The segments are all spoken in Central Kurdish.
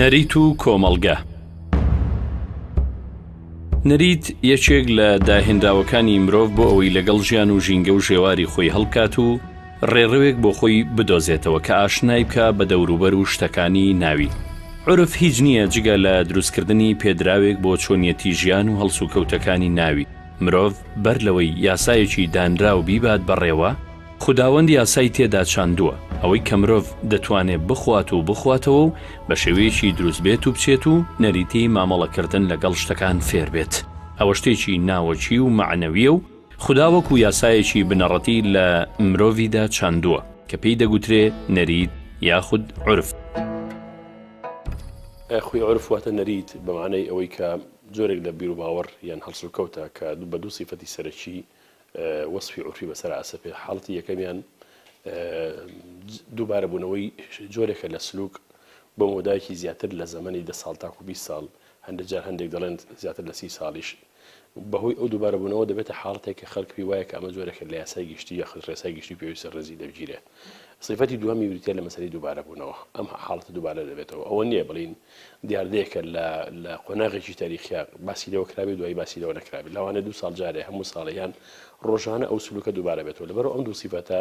نەریت و کۆمەڵگە نەریت یەکێک لە داهێنراوەکانی مرۆڤ بۆ ئەوەی لەگەڵ ژیان و ژینگە و ژێواری خۆی هەڵکات و ڕێڕەوێک بۆ خۆی بدۆزێتەوە کە ئاشنای بکا بە دەوروبەر و شتەکانی ناوی. عورف هیچ نییە جگە لە دروستکردنی پێدراوێک بۆ چۆنیەتی ژیان و هەڵسوکەوتەکانی ناوی، مرۆڤ بەر لەوەی یاسایەکی دانراو بیبات بەڕێوە، خوداوەند یاسای تێدا چاندووە، ئەوەی کە مرۆڤ دەتوانێ بخوات و بخواتەوە و بە شێوەیەکی دروست بێت و بچێت و نەریتی مامەڵەکردن لەگەڵ شتەکان فێر بێت، ئەوە شتێکی ناوەکی و مەعنەوییە و خودا وەکو یاسایەکی بنەڕەتی لە مرۆڤیدا چاندووە کە پێی دەگوترێ نەریت یاخود عورف. خۆی عورف واتە نەریت بە مانای ئەوەی کە جۆرێک لە بیروباوەڕ یان هەڵسوکەوتە کە بە دوو سیفەتی سەرەکی وەسفی عورفی بەسەر ئاسەپێ حاڵەتی یەکەمیان دووبارەبوونەوەی جۆرێکە لە سلوک بۆ مەودایەکی زیاتر لە زەمەنی دە ساڵ تاکو بیست ساڵ هەندێک جار هەندێک دەڵێن زیاتر لە سی ساڵیش بەهۆی ئەو دووبارەبوونەوە دەبێتە حاڵەتێک کە خەڵک پێی وایە کە ئەمە جۆرێکە لە یاسای گشتی یاخود ڕێسای گشتی پێویستە ڕێزی دەربگیرێ. سیفەتی دووەمی بریتییە لە مەسەلەی دووبارەبوونەوە، ئەم حاڵەتە دووبارە دەبێتەوە، ئەوە نییە بڵێین دیاردەیەکە لە لە قۆناغێکی تاریخیا باسی لێوە کرابێ دوایی باسی لێوە نەکرابێ، لەوانەیە دوو ساڵ جارێ، هەموو ساڵێ یان ڕۆژانە ئەو سلووکە دووبارە بێتەوە، لەبەرئەوە ئەم دوو سیفەتە،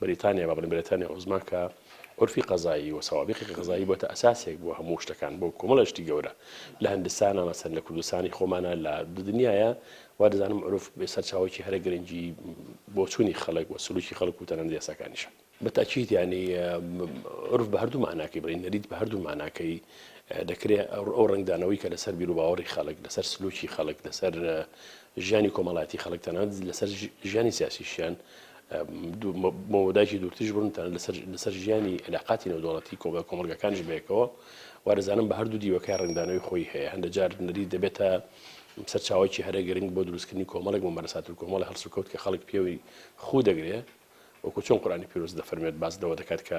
بریتانیا با بڵێین برێتانیا عوزما کە عورفی قەزایی و سەوابیقی قەزایی بۆتە ئەساسێک بۆ هەموو شتەکان بۆ کۆمەڵە شتی گەورە لە هندستانە مەسەن لە کوردستانی خۆمانە لە دنیاە وا دەزانم عروف سەرچاوێکی هەرە گرنگی بۆچوونی خەڵک و سلوکی خەڵک و تەنەند یاساکانیشە بەتاکییت ینی عرف بە هەردوو ماناکەی بڵین نەریت بە هەردوو ماناکەی دەکرێت ئەو ڕنگدانەوەی کە لەسەر بیروباوەڕی خەڵک لەسەر سلوکی خەڵک لەسەر ژیانی کۆمەڵاتی خەڵک تەنەند لەسەر ژیانی سیاسیشیان بۆ مەودایەکی دوورتریش بڕۆن تەنانەت لەسەر لەسەر ژیانی علاقاتی نێودەوڵەتی کۆمەڵ کۆمەڵگەکانیش بەیەکەوە وا دەزانم بە هەردوو دیوەکەی ڕەنگدانەوەی خۆی هەیە هەندە جار نەریت دەبێتە سەرچاوەکی هەرە گرنگ بۆ دروستکردنی کۆمەڵێک مەمەرەسات و کۆمەڵی هەڵسوکەوت کە خەڵک پێوەی خو دەگرێ وەکو چۆن قورانی پیرۆز دەفەرمێت باس لەوە دەکات کە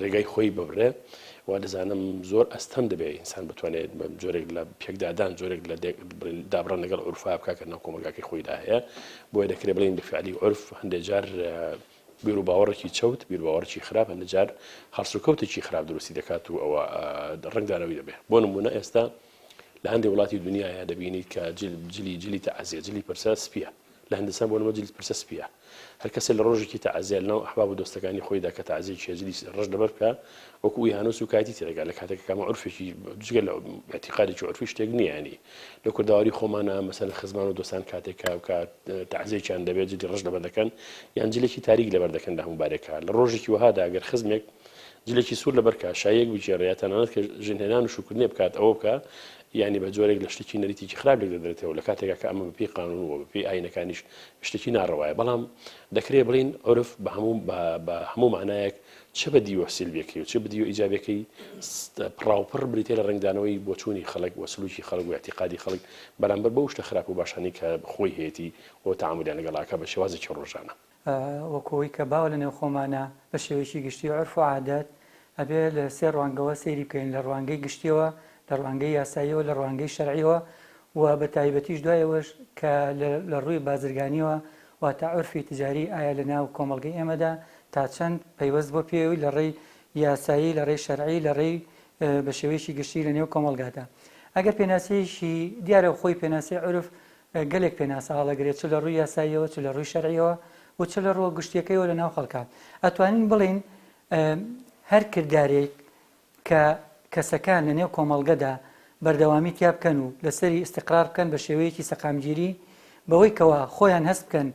ڕێگای خۆی ببڕێ وا دەزانم زۆر ئەستەم دەبێت ئینسان بتوانێت جۆرێک لە پێکدادان جۆرێک لە دابڕان لەگەڵ عرفا بکە کە ناو کۆمەلگاکەی خۆیدا هەیە بۆیە دەکرێت بڵین بەفعلی عرف هەندێک جار بیر و باوەڕێکی چەوت بیر باوەڕکی خراپ هەندە جار هەڵس و کەوتێکی خراپ دروستی دەکات و ئەوە ڕنگدانەوەی دەبێت بۆ نمونە ئێستا لە هەندێک وڵاتی دنیاە دەبینیت کە جلی جلی تەعزیە جلی پرسە سپیە لە هندستان بۆ نموونە جلد پرسە سپییە. هەر کەسێ لە ڕۆژێکی تەعزیە لە ناو ئەحباب و دۆستەکانی خۆیدا کە تەعزیەی چیە جلی ڕەش لەبەر بکا وەکو ئوی هانوو سووکایەتی تێدەگا لە کاتێک کامە عورفێکی جگە لە ئیعتیقادێکی عورفی شتێک نییە یانی لە کوردەواری خۆمانە مەسەلەن خزمان و دۆستان کاتێک کا کا تەعزیەکیان دەبێت جلی ڕەش لەبەر دەکەن یان جلێکی تاریک لەبەر دەکەن لە هەموو بارێکا لە ڕۆژێکی وەهادا گەر خزمێک جلێکی سوور لەبەر کا شایەک بگێڕێ یا تەنانەت کە ژنهێنان و شووکردنێ بکات ئەوە بکا یانی بە جۆرێک لە شتێکی نەریتێکی خراپ لێک دەدرێتەوە لە کاتێکا کە ئەمە بەپێی قانون و بەپێی ئاینەکانیش شتێکی ناڕەوایە بەڵام دەکرێ بڵین عرف بە هەموو بە هەموو مانایەک چ بە دیوە سلبیەکەی و چ بدیو ئیجابەکەی پڕاوپڕ بریتێ لە ڕنگدانەوەی بۆچوونی خەڵک و سلوکی خەڵک و اعتقادی خەڵک بەرامبەر بەو شتە خراپ و باشانی کە خۆی هەیەتی و تعاملیان لەگەڵاکە بە شێوازێکی ڕۆژانە وەکو ئەوەی کە باوە لە نێو خۆمانا بە شێوەیەکی گشتی عورف و عادەت ئەبێ لە سێ ڕوانگەوە سەیری بکەین لە ڕوانگەی گشتیەوە لە ڕوانگەی یاساییەوە لە ڕوانگەی شەرعیەوە و بە تایبەتیش دوای ئەوەش کە لە ڕووی بازرگانیەوە واتە عورفی تجاری ئایا لە ناو کۆمەڵگەی ئێمەدا تا چەند پەیوەست بۆ پێوی لە ڕێی یاسایی لە ڕێی شەرعی لە ڕێی بە شێوەیەکی گشتی لە نێو کۆمەڵگادا ئەگەر پێناسەیەکی دیارە خۆی پێناسەی عورف گەلێک پێناسە هەڵەگرێ چ لە ڕووی یاساییەوە چ لە ڕووی شەرعیەوە و چ لە ڕووە گشتیەکەیەوە لە ناو خەڵکا ئەتوانین بڵێین هەر کردارێک کە کەسەکان لە نێو کۆمەڵگەدا بەردەوامی تیا بکەن و لەسەری ئیسیقرار بکەن بە شێوەیەکی سەقامگیری بەوەی کەوا خۆیان هەست بکەن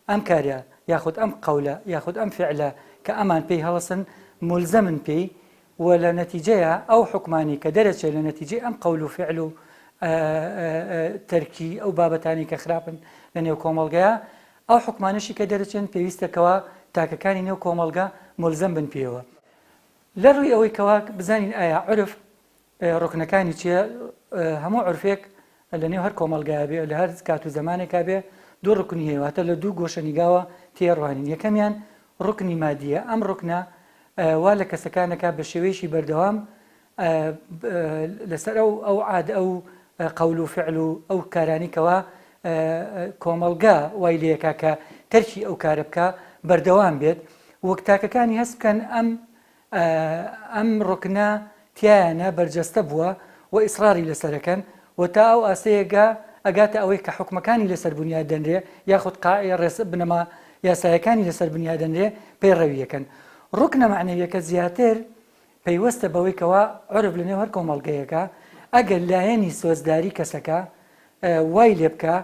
ئەم کارە یاخود ئەم قەولە یاخود ئەم فعلە کە ئەمان پێی هەڵسن ملزەمن پێی وە لە نەتیجەیە ئەو حوکمانەی کە دەرەچێ لە نەتیجەی ئەم قەول و فعل و تەرکی ئەو بابەتانەی کە خراپن لە نێو کۆمەڵگەیە ئەو حوکمانەشی کە دەرەچێن پێویستە کەوا تاکەکانی نێو کۆمەڵگە مولزەم بن پێوە لە ڕووی ئەوەی کەوا بزانین ئایا عرف ڕکنەکانی چیە هەموو عرفێک لە نێو هەر کۆمەڵگایە بێ، لە هەر کات و زەمانێکا بێ، دوو ڕوکنی هەیە، واتە لە دوو گۆشەنیگاوە تێیەڕوانین. یەکەمیان ڕوکنی مادییە، ئەم ڕوکنە وا لە کەسەکان دەکا بە شێوەیەکی بەردەوام لەسەر ئەو ئەو عاد ئەو قەول و فعل و ئەو کارانی کەوا کۆمەڵگا وای لەکە کە تەرکی ئەو کارە بکە بەردەوام بێت وەک تاکەکانی هەست بکەن ئەم ئەم ڕوکنە تیایانە بەرجەستە بووە و ئیسڕاری لەسەرەکەن و تا ئەو ئاستەیەگە ئەگاتە ئەوەی کە حوکمەکانی لەسەر بنیات دەنرێ یاخود قا ڕێسا بنەما یاسایەکانی لەسەر بنیا دەنرێ پەیڕەوی ئەکەن. ڕوکنە مەعنەویەکە زیاتر پەیوەستە بەوەی کەوا عورف لەنێو هەر کۆمەڵگەیەکە ئەگەر لایەنی سۆزداری کەسەکە وای لێبکا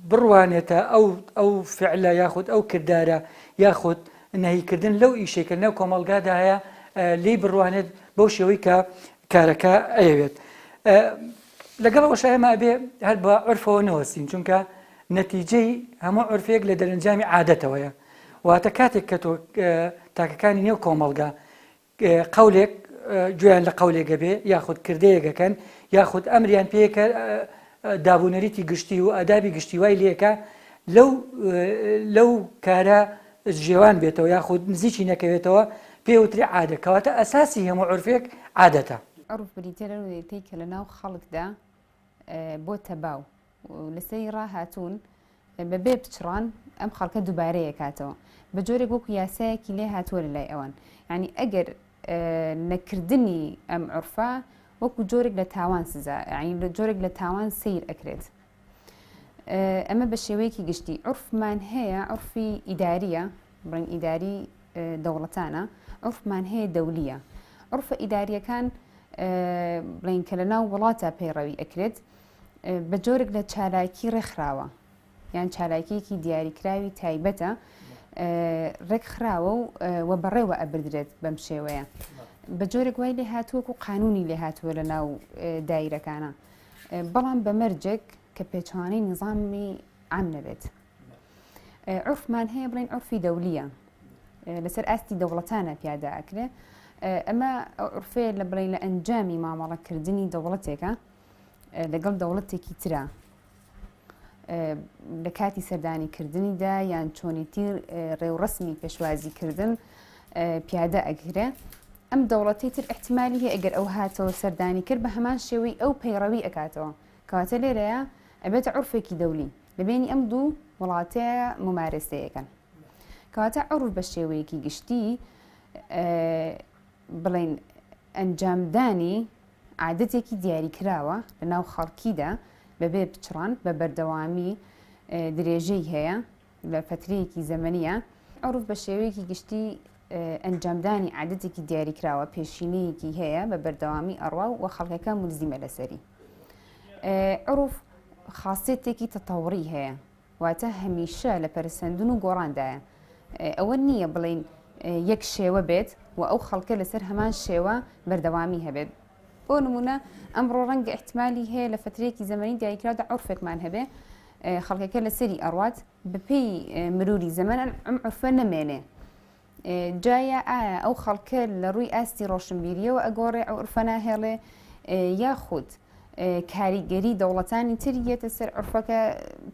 بڕوانێتە ئەو ئەو فعلە یاخود ئەو کردارە یاخود نەهیکردن لەو ئیشەی کە نەو کۆمەلگادا هەیە لی بڕوانێت بەو شێوەی کە کارەکە ئەیەوێت لەگەڵ ئەوش ئێمە ئەبێ هەر بە عرفەوە نەوەستین چونکە نەتیجەی هەموو عرفێک لە دەرەنجامی عادەتەوەیە واتە کاتێک کە تۆ تاکەکانی نێو کۆمەلگا قەولێک گوێیان لە قەولێک ئەبێ یاخود کردەیەک ئەکەن یاخود ئەمریان پێیە کە داب و نەریتی گشتی و ئادابی گشتی وای لێ کە لەو لەو کارە جێوان بێتەوە یاخود نزیکی نەکەوێتەوە پێوتری عادە کەواتە ئەساسی هەموو عرفێک عادەتە. عرف بریتییە لەو نەریتەی کە لەناو خەڵکدا بۆتە باو. لە سەری ڕا هاتوون بە بێ پچڕان ئەم خەڵکە دووبارەیە کاتەوە بە جۆرێک وەکو یاسایەکی لێ هاتووە لە لای ئەوان ینی ئەگەر نەکردنی ئەم عرفە وەکو جۆرێک لە تاوان سزا ینی لە جۆرێک لە تاوان سیر ئەکرێت ئەمە بە شێوەیەکی گشتی عرفمان هەیە عرفی ئیداریە بڵین ئیداری دەوڵەتانە عرفمان هەیە دەولیە عرفە ئیداریەکان بڵین کە لە ناو وڵاتە پەیڕەوی ئەکرێت بە جۆرێک لە چالاکی ڕێکخراوە یان چالاکیەکی دیاریکراوی تایبەتە ڕێکخراوە و وە بەڕێوە ئەبدرێت بەم شێوەیە بە جۆرێک وای لێ هاتووەکو قانونی لێ هاتووە لە ناو دایرەکانە بەڵام بە مەرجێک کە پێچوانەی نظامی ئام نەبێت عرفمان هەیە بڵین عرفی دەولیە لەسەر ئاستی دەوڵەتانە پیادا ئەکرێ ئەمە عرفێ لە بڵین لە ئەنجامی مامەڵەکردنی دەوڵەتێکە لەگەڵ دەوڵەتێکی ترا لە کاتی سەردانی کردنیدا یان چۆنیتی ڕێوڕسمی پێشوازی کردن پیادە ئەگرێ ئەم دەوڵەتی تر احتمالی هەیە ئەگەر ئەو هاتەوە سەردانی کرد بە هەمان شێوەی ئەو پەیڕەوی ئەکاتەوە کەواتە لێرەیە ئەبێتە عرفێکی دەولی لەبێنی ئەم دوو وڵاتەیە ممارەسەیەکەن کەواتە عروف بە شێوەیەکی گشتی بڵین ئەنجامدانی عادەتێکی دیاریکراوە لە ناو خەڵکیدا بەبێ پچڕان بە بەردەوامی درێژەی هەیە لە فەترەیەکی زەمەنیە عورف بە شێوەیەکی گشتی ئەنجامدانی عادەتێکی دیاریکراوە پێشینەیەکی هەیە بە بەردەوامی ئەڕوا و خەڵکەکە ملزیمە لەسەری عورف خاصێتێکی تەتەوڕی هەیە واتە هەمیشە لە پەرەسەندن و گۆڕاندایە. ئەوە نییە بڵێین یەک شێوە بێت و ئەو خەڵکە لەسەر هەمان شێوە بەردەوامی هەبێت. بۆ نموونە ئەمڕۆ ڕەنگە ئیحتیمالی هەیە لە فەترەیەکی زەمەنی دایکراودا عورفێکمان هەبێ خەڵکەکە لەسەری ئەڕوات، بەپێی مرووری زەمەن ئەم عورفە نەمێنێ. جا یا ئایا ئەو خەڵکە لە ڕووی ئاستی ڕۆشنبیریەوە ئەگۆڕێ ئەو عرفە ناهێڵێ یاخود کاریگەری دەوڵەتانی تر یەتە سەر عرفەکە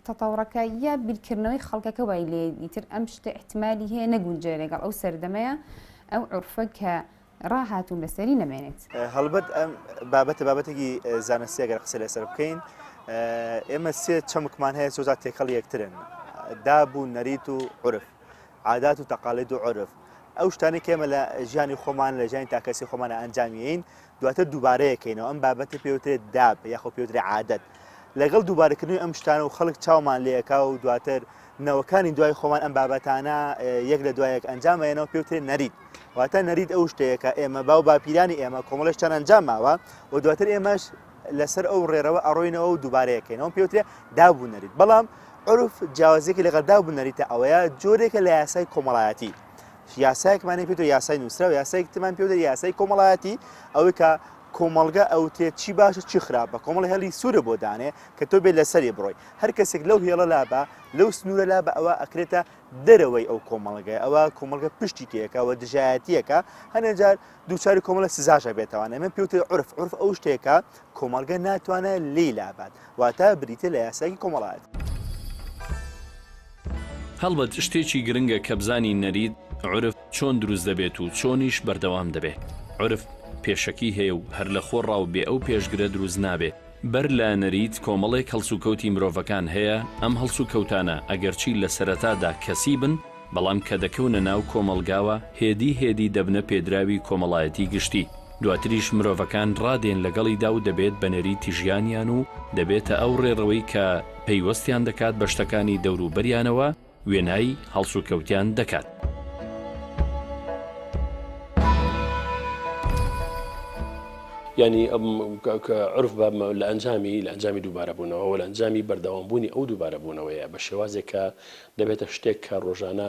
تەتاوڕەکە یا بیرکردنەوەی خەڵکەکە وای لێ ئیتر ئەم شتە احتمالی هەیە نەگونجێ لەگەڵ ئەو سەردەمەیە ئەو عرفە کە ڕاهاتوون لەسەری نەمێنێت. هەڵبەت ئەم بابەتە بابەتێکی زانستی گەر قسە لەسەر بکەین ئێمە سێ چەمکمان هەیە سۆزا تێکەڵ یەکترن داب و نەریت و عرف عادات و تەقالید و عرف ئەو شتانی کێمە لە ژیانی خۆمان لە ژیانی تاکەسی خۆمانە ئەنجامیین دواتر دووبارەیەکەینەوە ئەم بابەتی پێوترێت داب یاخۆ پێوترێ عادەت لەگەڵ دووبارەکردنی ئەم شتانە و خەڵک چاومان لەکە و دواتر نەوەکانی دوای خۆمان ئەم بابەتانە یەک لە دوایەک ئەنجام ئەیەنەوە پێوترێن نەریت واتە نەریت ئەو شتەیە کە ئێمە باو باپیرانی ئێمە کۆمەڵش چەند ئەنجام ماوە و دواتر ئێمەش لەسەر ئەو ڕێرەوە ئەڕۆینەوە و دووبارەیەکەینەوە پێوترێ دابوو نەریت بەڵام عرف جیاوازێکی لەگەڵ دابوو نەریتە ئەوەیە جۆرێکە لە یاسای کۆمەڵایەتی یاسایەکمانی پێ یاسای نووسراو یاسایکتمان پێ یاسای کۆمەڵایەتی ئەوەی کە کۆمەلگە ئەوتێ چی باشە چی خراپە کۆمەڵ هێڵی سوورە بۆ دانێ کە تۆ بێ لەسەری بڕۆی هەر کەسێک لەو هێڵە لابا، لەو سنوورە لابا ئەوا ئەکرێتە دەرەوەی ئەو کۆمەڵگای، ئەوا کۆمەڵگە پشتی تێکا و دژایەتی ئەکا، هەنێ جار دووچاری کۆمەڵە سزاش ئەبێتەوە، ئەمە پێی وترێ عورف، عورف ئەو شتەیە کە کۆمەڵگە ناتوانێ لێی لابات، واتە بریتییە لە یاسایەکی کۆمەڵایەتی. هەڵبەت شتێکی گرنگە کە بزانین نەریت، عورف، چۆن دروست دەبێت و چۆنیش بەردەوام دەبێ. عورف پێشەکی هەیە و هەر لە خۆڕا و بێ ئەو پێشگرە دروست نابێ، بەر لە نەریت کۆمەڵێک هەڵسوکەوتی مرۆڤەکان هەیە، ئەم هەڵسوکەوتانە ئەگەرچی لە سەرەتادا کەسی بن، بەڵام کە دەکەونە ناو کۆمەڵگاوە هێدی هێدی دەبنە پێدراوی کۆمەڵایەتی گشتی، دواتریش مرۆڤەکان ڕادێن لەگەڵیدا و دەبێت بە نەریتی ژیانیان و دەبێتە ئەو ڕێڕەوەی کە پەیوەستیان دەکات بە شتەکانی دەوروبەریانەوە، وێنای هەڵسوکەوتیان دەکات. یانی عرف بە لە ئەنجامی لە ئەنجامی دووبارەبوونەوە لە ئەنجامی بەردەوامبوونی ئەو دووبارەبوونەوەیە بە شێوازێک کە دەبێتە شتێک کە ڕۆژانە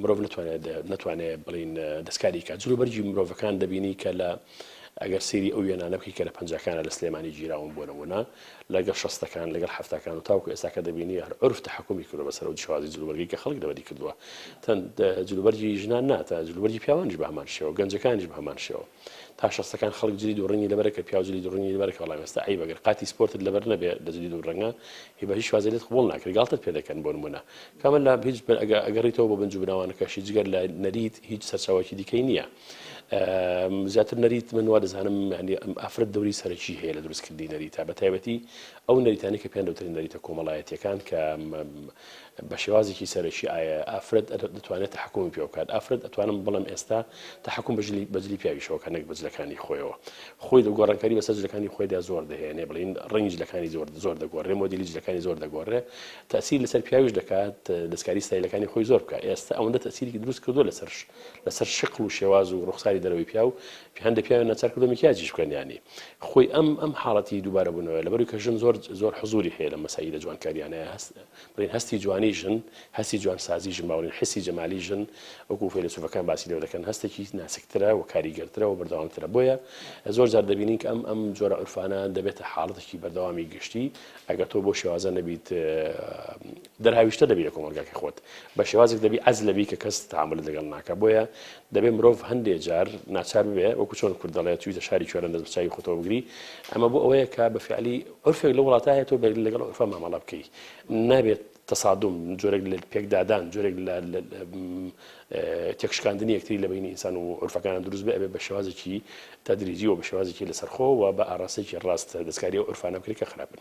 مرۆڤ نتوانێت نتوانێت بڵین دەستکاری کە جلو بەرگی مرۆڤەکان دەبینی کە لە ئەگەر سری ئەو وێنانە بکەی کە لە پەنجەکانە لە سلێمانی گیراون بۆ نمونە لەگەڵ شەستەکان، لەگەڵ حەفتاکان و تاوەکو ئێستاکە دەبینی هەر عورف تەحەکومی کردوە بەسەر ئەو جهوازی جلوبەرگەی کە خەڵک لەبەری کردوە. تەند جلوبەرگی ژنان نا تا جلوبەرگی پیاوانیش بەهەمان شێوە، گەنجەکانیش بەهەمان شێوە. تا شەستەکان خەڵک جلی دوو ڕەنگی لەبەرە کە پیاو جلی دوو ڕەنگی لەبەرە کە بەڵام ئێستا عەیبە گەر قاتی سپۆرتت لەبەر نەبێ لە جلی دوو ڕەنگە هی بە هیچ شوازێ لێت قبوڵ ناکرێ گاڵتەت پێ دەکەن بۆ نمونە کامە لە هیچ ئەگەر ئەگەڕیتەوە بۆ بنج و بناوانەکەشی جگەر لە نەریت هیچ سەرچاوەکی دیکەی نیە. زیاتر نەریت من وا دەزانم ینی ئەم ئافرەت دەوری سەرەکی هەیە لە دروستکردنی نەریتا بە تایبەتی ئەو نەریتانی کە پێیان دەوترین نەریتە کۆمەڵایەتیەکان کە بە شێوازێکی سەرەکی ئایا ئافرەت دەتوانێت تحکومی پێ بکات ئافرەت ئەتوانم بڵم ئێستا تحکم بەجلی بەجلی پیاویشەوەکە نەک بەجلەکانی خۆیەوە خۆی دە گۆڕانکاری بەسەر جلەکانی خۆیدا زۆر دەهێنێ بڵین ڕنج لەکانی زۆر زۆر دەگۆڕێ مۆدیلی جلەکانی زۆر دەگۆڕێ تاسی لەسەر پیاویش دەکات دەستکاری ستایلەکانی خۆی زۆر بکە ئێستا ئەوەندە تەسیری دروست کردو لەسەر لەسەر شکڵ و شێواز و ڕوخساری دەرەوەی پیاو هەندە پیاوێن نەچار کردو مکیاجیش بکەن ینی خۆی ئەم ئەم حاڵەتی دووبارە بوونەوە لەبەروی کە ژن زۆر زۆر حزوری هەیە لە مەسایی لە جوانکاریانەیە هەست بڵین هەستی جوانی ژن هەستی جوان سازی ژن باوەڕین حسی جەمالی ژن وەکو فەیلسوفەکان باسی لێوە دەکەن هەستێکی ناسکترە و کاریگەرترە و بەردەوامترە بۆیە زۆر جار دەبینین کە ئەم ئەم جۆرە عرفانە دەبێتە حاڵەتێکی بەردەوامی گشتی ئەگەر تۆ بۆ شێوازە نەبیت دەرهاویشتە دەبی لە کۆمەڵگاکەی خۆت بە شێوازێک دەبی عەز لەبی کە کەس تەعامولت لەگەڵ ناکا بۆیە دەبێ مرۆڤ هەندێ جار ناچار ببێ وەکو چۆن کورد دەڵێ چویتە شاری کوێران دەست بە چاوی خۆتەوە بگری ئەمە بۆ ئەوەیە کە بە فیعلی عورفێک لەو وڵاتە هەیە تۆ بەرگری لەگەڵ عورفە مامەڵە بکەی نابێت تەسادوم جۆرێک لە پێکدادان جۆرێک لە تێکشکاندنی یەکتری لە بینی ئینسان و عورفەکان دروست بێ بە شێوازێکی تەدریجی و بە شێوازێکی لەسەرخۆ و بە ئاراستێکی ڕاست دەستکاری و عورفانە بکرێت کە خراپن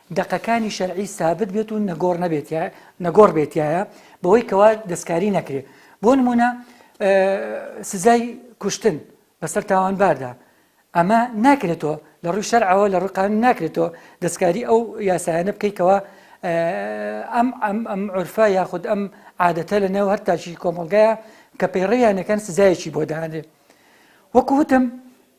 دەقەکانی شەرعی سابت بێت و نەگۆڕ نەبێت یا نەگۆڕ بێت یایە بەوەی کەوا دەستکاری نەکرێت بۆ نمونە سزای کوشتن بەسەر تاوانباردا ئەمە ناکرێتەوە لە ڕووی شەرعەوە لە ڕقان ناکرێتەوە دەستکاری ئەو یاسایانە بکەیتەوە ئەم ئەم ئەم عرفە یاخود ئەم عادەتە لە نێو هەر تاکی کۆمەلگایە کە پەیڕیانەکەن سزایەکی بۆ دانێ وەکوتم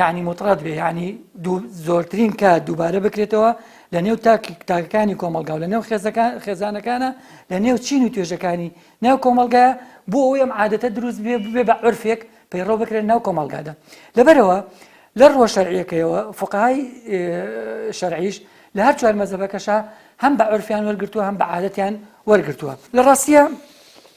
یەعنی موتڕەد بێ یەعنی دوو زۆرترین کات دووبارە بکرێتەوە لە نێو تاک تاکەکانی کۆمەڵگا و لە نێو خێزەکان خێزانەکانە لە نێو چین و توێژەکانی ناو کۆمەڵگایە بۆ ئەوەی ئەم عادەتە دروست بێ ببێ بە عرفێک پەیڕەو بکرێت ناو کۆمەڵگادا لەبەرەوە لە ڕووە شەرعیەکەیەوە فقهای شەرعیش لە هەر چوار مەزەبەکەشە هەم بە عرفیان وەرگرتووە هەم بە عادەتیان وەرگرتووە لە ڕاستیە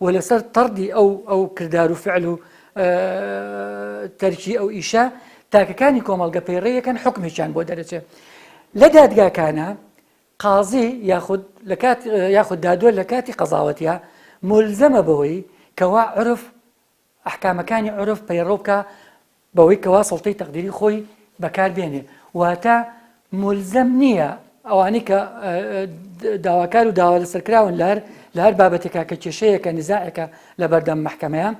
و لەسەر تەڕدی ئەو ئەو کردار و فعل و تەرکی ئەو ئیشە تاکەکانی کۆمەڵگە پەیڕەویەکەن حکمێکیان بۆ دەرەچێ لە دادگاکانە قازی یاخود لە کات یاخود دادوە لە کاتی قەزاوەتە ملزەمە بەوەی کەوا عرف ئەحکامەکانی عورف پەیڕەو بکا بەوەی کەوا سوڵتەی تەقدیری خۆی بەکار بێنێ واتە مولزەم نییە ئەوانەی کە داواکار و داوا لەسەر کراون لە هەر لە هەر بابەتێکا کە کێشەیەکە نزاعێکە لە بەردەم محکەمەیە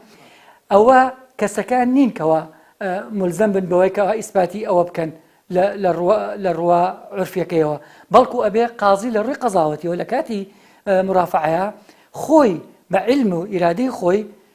ئەوە کەسەکان نین کەەوە ملزم بن بەوەی کەەوە ئیسپاتی ئەوە بکەن لە ڕوە عرفەکەیەوە بەڵکو ئەبێ قازی لە ڕووی قەزاوەتیەوە لە کاتی مرافعەیە خۆی بە علم و ئیرادەی خۆی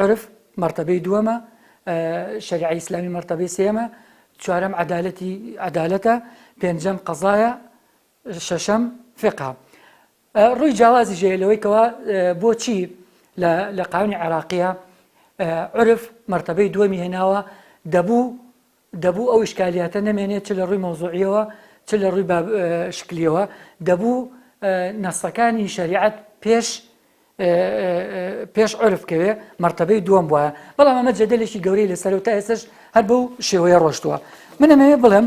عورف مەرتەبەی دووەمە، شەریعەی ئیسلامی مەرتەبەی سێیەمە، چوارەم عەدالەتی عەدالەتە، پێنجەم قەزایە، شەشەم فیقهە. ڕووی جیاوازیش هەیە لەوەی کەوا بۆچی لە قانونی عێراقییە عورف مەرتەبەی دووەمی هێناوە، دەبوو دەبوو ئەو ئیشکالیاتە نەمێنێت چ لە ڕووی مەوزوعییەوە چ لە ڕووی باب شکلییەوە، دەبوو نەسەکانی شەریعەت پێش پێش عورف کەوێ مەرتەبەی دووەم بوایە، بەڵام ئەمە جەدەلێکی گەورەی لەسەرە و تا ئێستەش هەر بەو شێوەیە ڕۆشتووە. من ئەمەوێ بڵێم.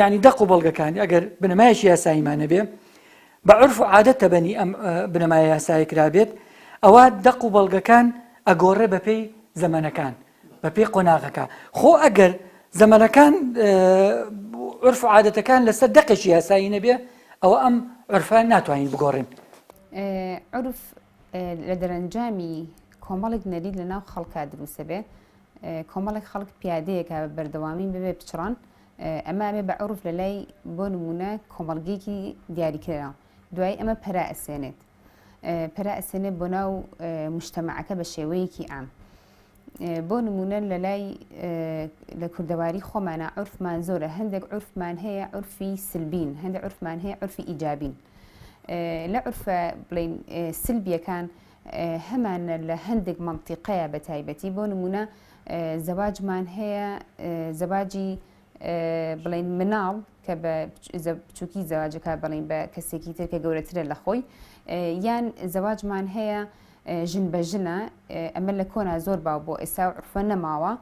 یانی دەق و بەڵگەکانی ئەگەر بنەمایەکی یاساییمان نەبێ، بە عورف و عادەت تەبەنی ئەم بنەمایە یاسایە کرابێت، ئەوا دەق و بەڵگەکان ئەگۆڕێ بەپێی زەمەنەکان، بەپێی قۆناغەکان. خۆ ئەگەر زەمەنەکان و عورف و عادەتەکان لەسەر دەقێکی یاسایی نەبێ، ئەوە ئەم عورفە ناتوانین بگۆڕین. عورف لە دەرەنجامی کۆمەڵێک نەریت لەناو خەڵکا دروست دەبێ، کۆمەڵێک خەڵک پیادەیەکا بە بەردەوامی بەبێ پچڕان ئەمە ئەبێ بە عورف لەلای بۆ نموونە کۆمەڵگەیەکی دیاریکرا دوای ئەمە پەرە ئەسێنێت پەرە ئەسێنێت بۆ ناو مشتەمەعەکە بە شێوەیەکی ئام بۆ نمونە لە لای لە کوردەواری خۆمانە عرفمان زۆرە هەندێک عرفمان هەیە عرفی سلبین هەندێک عرفمان هەیە عرفی ئیجابین لە عرفە بڵین سلبیەکان هەمانە لە هەندێک مەنتیقەیا بە تایبەتی بۆ نمونە زەواجمان هەیە زەواجی بڵین مناڵ کە بە بچووکی زەواجەکە بڵین بە کەسێکی تر کە گەورەترە لە خۆی یان زەواجمان هەیە ژن بە ژنە ئەمە لە کۆنا زۆر باو بۆ ئێستا و عرفە نەماوە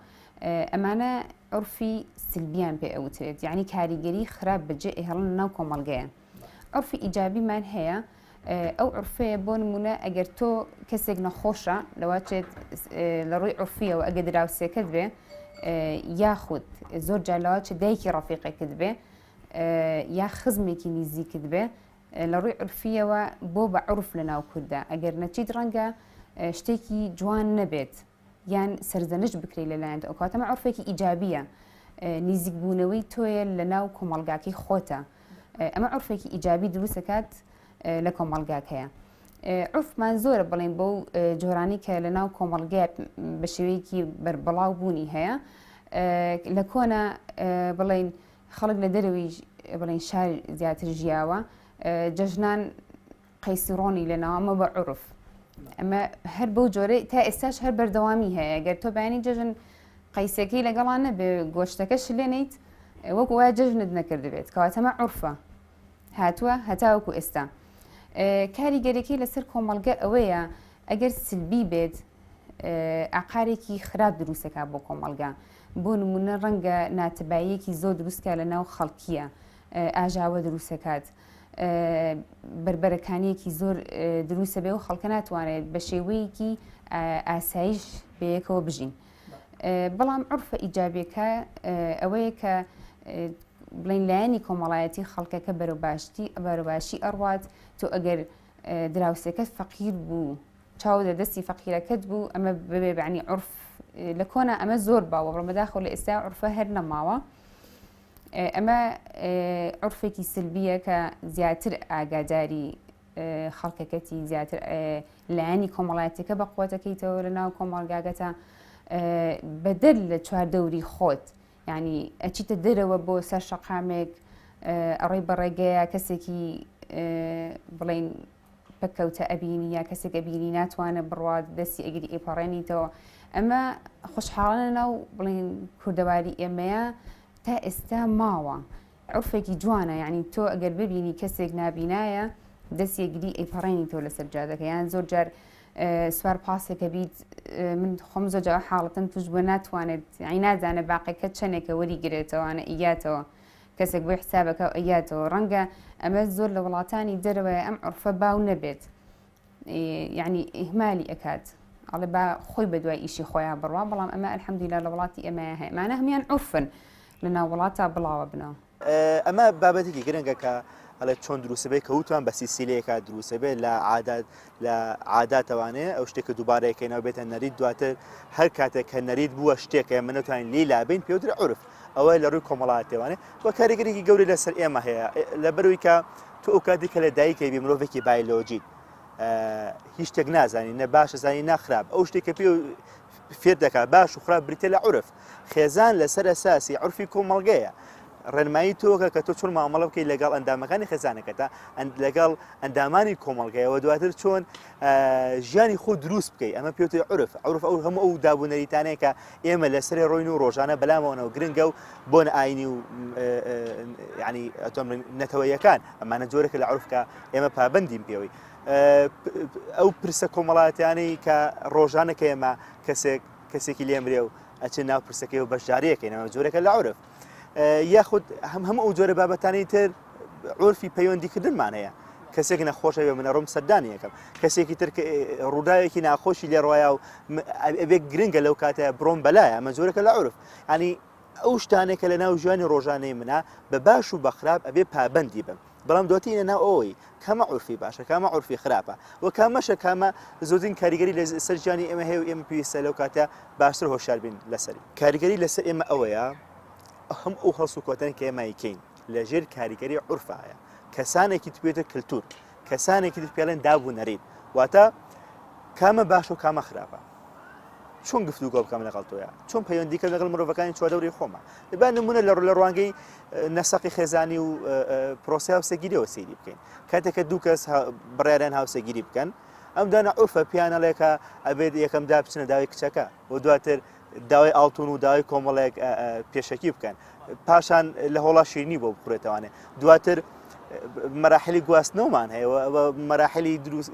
ئەمانە عرفی سلبیان پێ ئەوترێت یعنی کاریگەری خراپ بەجێ ئێهڵن ناو کۆمەلگەیان عورفی ئیجابیمان هەیە ئەو عورفەیە بۆ نمونە ئەگەر تۆ کەسێک نەخۆشە لەواچێت لە ڕووی عورفیەوە ئەگە دراوسێکەت بێ یاخود زۆر جالاواچ دایکی ڕەفیقێکت بێ یا خزمێکی نزیکت بێ لە ڕووی عورفیەوە بۆ بە عورف لە ناو کووردا ئەگەر نەچیت ڕەنگە شتێکی جوان نەبێت یان سەرزەنشت بکرێی لەلایەن ئەو کاتەمە عرفێکی ئیجابیە نیزیک بوونەوەی تۆیە لە ناو کۆمەلگاکەی خۆتە ئەمە عرفێکی ئیجابی دروستەکات لە کۆمەلگاکەیە عفمان زۆرە بڵێن بەو جۆرانی کە لە ناو کۆمەلگات بە شێوەیەکی بەربڵاو بوونی هەیە لە کۆنا بڵین خەڵک لە دەروی بڵین شار زیاتر ژیاوە جەژنان قەیسی ڕۆنی لە ناوە ئەمە بە عرف ئەمە هەر بەو جۆرە تا ئێستاش هەر بەردەوامی هەیە گەر تۆ بەیانی جەژن قەیسەکەی لەگەڵان نەبێ گۆشتەکەش لێنیت وەک وایە جەژنت نەکردبێت کەواتەمە عرفە هاتووە هەتاوەکو ئێستا کاریگەرەکەی لەسەر کۆمەلگە ئەوەیە ئەگەر سلبی بێت ئاقارێکی خراپ دروستەکە بۆ کۆمەلگا بۆ نمونە ڕەنگە ناتباییەکی زۆر دروستکە لە ناو خەڵکیە ئاژاوە دروستەکات بەربەرەکانیەکی زۆر دروستە بێ و خەڵکە ناتوانێت بە شێوەیەکی ئاسایش بەیەکەوە بژین بەڵام عرفە ئیجابەکە ئەوەیە کە بڵین لایەنی کۆمەڵایەتی خەڵکەکە بەرەو باشتی بەرە باشی ئەڕات تۆ ئەگەر دراوسەکەت فەقیر بوو چاو لە دەستی فەقیرەکەت بوو ئەمە ببێ بەعنی عرف لە کۆنا ئەمە زۆر باوە بڕمەداخۆ لە ئێستا عرفە هەر نەماوە. ئەمە عورفێکی سلبیە کە زیاتر ئاگاداری خەڵکەکەتی زیاتر لایەنی کۆمەڵاتەکە بە قوتەکەیتەوە لە ناو کۆمەڵگاگەتە بەدەر لە چوار دەوری خۆت ینی ئەچیتە دەرەوە بۆ سەر شەقامێک ئەڕێ بەڕێگەیە کەسێکی بڵین پەککەوتە ئەبینی یا کەسێک ئەبینی ناتوانێت بڕوات دەستی ئەگری ئەیپەڕێنیتەوە ئەمە خوشحاڵانە ناو بڵین کوردەواری ئێمەیە تا ئێستا ماوە عرفێکی جوانە یعنی تۆ ئەگەر ببینی کەسێک نابینایە دەست یەگری ئەیپەڕێنی تۆ لەسەر جادەکە یان زۆر جار سوار پاسێکە بیت من خۆم زۆر جا حاڵەتم توش بە ناتوانێت ئەی نازانە باقیەکە چەندێکە وەری گرێتەوەوانە ئیاتەوە کەسێک بۆی حسابەکە و ئەیاتەوە ڕەنگە ئەمە زۆر لە وڵاتانی دەرەوەی ئەم عرفە باو نەبێت یعنی ئیهمالی ئەکات ئەڵێ با خۆی بە دوای ئیشی خۆیان بڕوا بەڵام ئەمە ئەلحەمدیلا لە وڵاتی ئێمە هەیە مانە هەمان عرفن لە ناو وڵاتە بڵاوە بنەوە ئەمە بابەتێکی گرنگە کە ئەڵێ چۆن دروسبێ کەوتوان بە سیسیلەیەکە دروسبێ لە عادات لە عاداتەوانەیە ئەو شتێکە دووبارە یەکەینەوە بێتە نەریت دواتر هەر کاتێک کە نەریت بووە شتێکە ئێمە نەتوانین لێی لابین پێوترە عورف ئەوە لە ڕووی کۆمەڵاتێوانێ و کاریگەرێکی گەوری لەسەر ئێمە هەیە لە بەروی کە تو ئەو کاتی کە لە دایکەوی مرۆڤێکی بایلۆجیت هیچ شتێک نازانی نە باشە زانی ناخراپ ئەو شتێکە پێ فێر دەکات باش و خراپ بریتە لە عورف خێزان لەسەر ئەساسی عورفی کۆمەڵگەیە، ڕێنمایی تۆکە کە تۆ چۆن مامەڵە بکەیت لەگەڵ ئەندامەکانی خێزانەکەتا، لەگەڵ ئەندامانی کۆمەڵگەیە و دواتر چۆن ژیانی خۆ دروست بکەیت ئەمە پێوتی عورف عورف ئەو هەموو ئەو دابوونەریتانەیە کە ئێمە لەسەر ڕۆین و ڕۆژانە بەلامەوەنەوە گرنگە و بۆن ئاینی و ینی ئەتۆم نەتەوەیەکان ئەمانە جۆرەکە لە عورفکە ئێمە پابندیم پێوەی ئەو پرسە کۆمەڵاتیانەی کە ڕۆژانە کە ئێمە کەسێک کەسێکی لێ مرێ و ئەچێ ناو پرسەکەی و بەشدارەکەینەوە جۆرەکە لە عورف یاخود هەم هەم ئەو جۆرە بابەتانی تر عورفی پەیوەندیکردنمان هەیە کەسێک نەخۆشە بێ منە ڕوم سەردانی یەکەم کەسێکی تر ڕووداوێکی ناخۆشی لێ ڕایە و ئەبێک گرنگە لەو کاتە بڕۆم بەلایە ئەمە جۆرەکە لە عورف ینی ئەو شتانێکە لە ناو ژیانی ڕۆژانەی منە بە باش و بەخراپ ئەبێ پابندی بم بەڵام دواتیئینە ناو ئەوەی کامە عورفی باشە کامە عورفی خراپە و کامەشە کامە زۆرترین کاریگەری لە سەر ژیانی ئێمە هەیە و ئێمە پێویستە لەو کاتە باشتر هۆشیار بین لەسەری. کاریگەری لە سەر ئێمە ئەوەیە هەموو ئەو هەڵس و کەوتانەی کە ئێمە ئەیکەین لە ژێر کاریگەری عورفا هەیە کەسانێکی تر پێێتە کەلتور کەسانێکی تر پێڵێن داب و نەریت واتە کامە باشە و کامە خراپە. چۆن گفتوگۆ بکەم لەگەڵ تۆە چۆن پەیوەندیکە لەگەڵ مرۆڤەکانی چواردەوری خۆمە دەبان نمونە لە ڕوو لە ڕوانگەی نەسەقی خێزانی و پرۆسی هاوسەگیریەوە سەیری بکەین کاتێکە دوو کەس بڕیاران هاوسەگیری بکەن ئەم دانە عرفە پیانەڵێکە ئەبێت یەکەم دا بچنە داوای کچەکە و دواتر داوای ئاڵتون و داوای کۆمەڵێک پێشەکی بکەن پاشان لە هۆڵا شیرنی بۆ بخورێتوانێت دواتر مەراحلی گواستنەوەمان هەیە مەراحلی دروست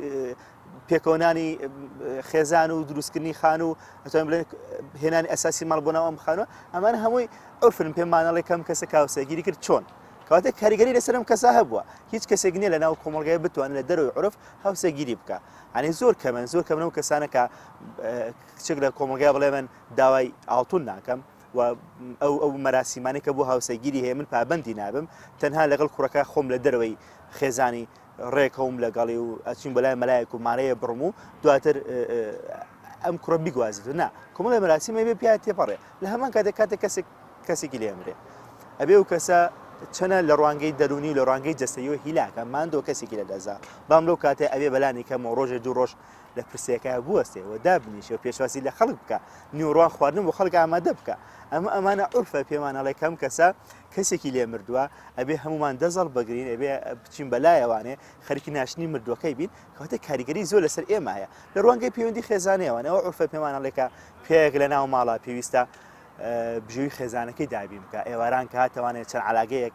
پێکەوەنانی خێزان و دروستکردنی خان و ئەتوانین بڵێن هێنانی ئەساسی ماڵ بۆ ناوام بخانوە ئەمان هەمووی ئەوفرن پێ مانەڵی کەم کەسە کاوسەگیری کرد چۆن کاتێک کاریگەری لەسرم کەسا هەبووە هیچ کەسێک نیە لە ناو کۆمەلگای بتوان لە دەرەوەی عرف هاوسەگیری بکە ئەنی زۆر کەمن زۆر کەمن و کەسانەکە کچێک لە کۆمەلگای بڵێ من داوای ئاڵتون ناکەم و ئەو ئەو مەراسیمانەکە بۆ هاوسەگیری هەیە من پابندی نابم تەنها لەگەڵ کوڕەکە خۆم لە دەرەوەی خێزانی ڕێکەوم لەگەڵی و ئەچین بە لای مەلایەک و مارەیە بڕم و دواتر ئەم کوڕە بیگوازیت نا کۆمەڵی مەراسی مەبێ پیا تێپەڕێ لە هەمان کاتێک کاتێک کەسێک کەسێکی لێمرێ ئەبێ و کەسە چەنە لە ڕوانگەی دەرونی و لە ڕانگەی جەستەیەوە هیلاکە ماندۆ کەسێکی لە دەزا بام لەو کاتێ ئەوێ بەلانی کەمەوە ڕۆژێ دوو ڕۆژ لە پرسێکە بوەستێ و دابنیشە و پێشواسی لە خەڵک بکە نیوڕوان خواردن بۆ خەڵک ئامادە بکە ئەمە ئەمانە عرفە پێمانەڵێ کەم کەسە کەسێکی لێ مردوە ئەبێ هەمومان دەست هەڵبگرین ئەبێ بچین بەلایەوانێ خەرکی ناشتنی مردوەکەی بین کەوتە کاریگەری زۆر لەسەر ئێمە هەیە لە ڕوانگەی پەیوەندی خێزانەوەن ئەو عرفە پێمانە لێکە پێیەک لە ناو ماڵە پێویستە بژێوی خێزانەکەی دابین بکە ئێواران کە هاتەوانێت چەند علاگەیەک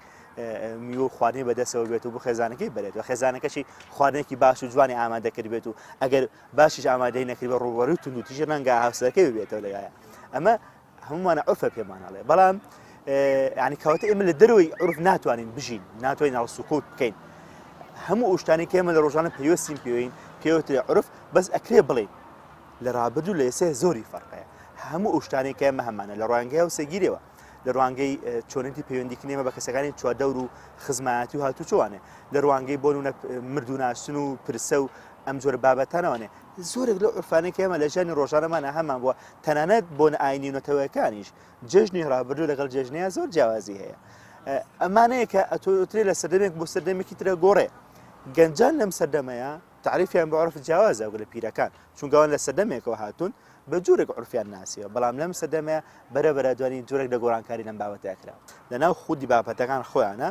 میوە و خواردنی بەدەسەوە بێت و بۆ خێزانەکەی بێت و خێزانەکەشی خواردنێکی باش و جوانی ئامادەکرد بێت و ئەگەر باشیش ئامادەی نەکرد بە ڕووەڕی و تونندوتیژ ڕەنگە هاوسەکەی بێتەوە لەلایە ئەمە هەموومانە عورفە پێمان ئەڵێ بەڵام یعنی کەواتە ئێمە لە دەرەوەی عورف ناتوانین بژین ناتوانین ناڵ سوکوت بکەین هەموو ئوشتانی کێمە لە ڕۆژانە پێوەستیم پێوین پێوتێ عورف بەس ئەکرێ بڵین لە ڕابردوو لە ئێسێ زۆری فەرقەیە هەموو ئوشتانی کێمە هەمانە لە ڕوانگەی و سەگیرەوە لە ڕوانگەی چۆنێتی پەیوەندیکنێمە بە کەسەکانی چواردەور و خزمایەتی و هاتوو چوانێ لە ڕوانگەی بۆن و مردوناسن و پرسە و ئەم جۆر بابەتانەوەێ زۆرێک لە عرفانێک ئێمە لە ژانی ڕۆژانەمانە هەمان بووە تەنانەت بۆنە ئاینی و نەتەوەیەکانیش جێژنی ڕابردوو لەگەڵ جێژنەیە زۆر جیاوازی هەیە ئەمانەیە کە ئەتۆترێ لە سەردەمێک بۆ سەردەمێکی ترە گۆڕێ گەنجان لەم سەردەمەیە تعریفیان بە عرف جیاوازە گەلە پیرەکان چونگەوان لە سەردەمێکەوە هاتوون بە جوورێک عرفیان ناسیەوە بەڵام لەم سەدەمەیە بەرە بەرە دوانی جوورێک لە گۆڕانکاری لەم بابەتەیە کرا لەناو خودی بابەتەکان خۆیانە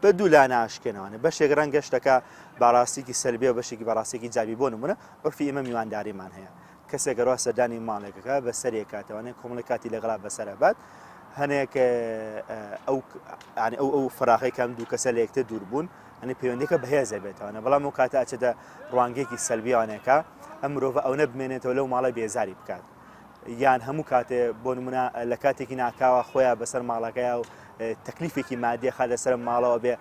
بە دوو لا ناشکێنەوەە بەشێک ڕەنگ گەشتەکە باڕاستێکی سەلبیە بەشێکی بەڕاستێکی جابی بۆ نمونە عرفی ئمە میوانداریمان هەیە کەسێک گەر وا سەردانی ماڵێکەکە بە سەرێک کاتەوانێت کۆمەڵی کاتی لەگەڵا بەسەر بات هەنێک ئەو ئەو فراغی کەم دوو کەسە لە یەکتر دوور بوون ئەنی پەیوەندەکە بەهێزە بێتوانە بەڵام و کاتە ئەچێتە ڕوانگێکی سەلبیانێکە ئەم مرۆڤە ئەوە بمێنێتەوە لەو ماڵە بێزاری بکات یان هەموو کاتێ بۆ نمونە لە کاتێکی ناکاوە خۆیان بەسەر ماڵەکەی و تەکلیفێکی مادیخە لەسەر ماڵەوە بێ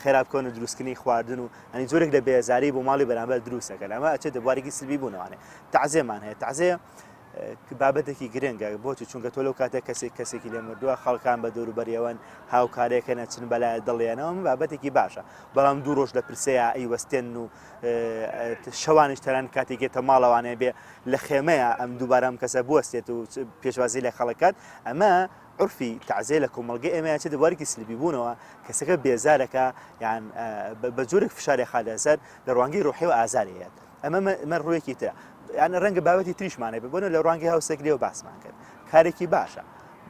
خێرابکەون و دروستکردنی خواردن و یانی جۆرێک لە بێزاری بۆ ماڵی بەرامبەر دروست دەکەن ئەمە ئەچێت دەبارێکی سلبی بوونەوانێ تعزێمان هەیە تعزێ بابەتێکی گرنگە بۆچی چونکە تۆ لەو کاتێک کەسێک کەسێکی لێ مردووە خەڵکان بە دەوروبەریەوەن هاوکارێکە نەچن بەلای دڵێنەوە بابەتێکی باشە بەڵام دوو ڕۆژ لە پرسەیە ئەی وەستێن و شەوانش تەران کاتێکێتە ماڵەوانێ بێ لە خێمەیە ئەم دووبارەم کەسە بوەستێت و پێشوازی لە خەڵکات ئەمە عورفی تەعزیە لە کۆمەڵگەی ئێمە یان چێتە بوارێکی سلبیبوونەوە، کەسەکە بێزار ئەکا یان بە جۆرێک فشاری ئەخاتە سەر لە ڕوانگەی ڕۆحیەوە ئازاری هەیەت. ئەمە مە ڕوویەکی ترە. یان ڕەنگە بابەتی تریشمان هەبێت، بۆ نموونە لە ڕوانگەی هاوسەگریەوە باسمان کرد، کارێکی باشە.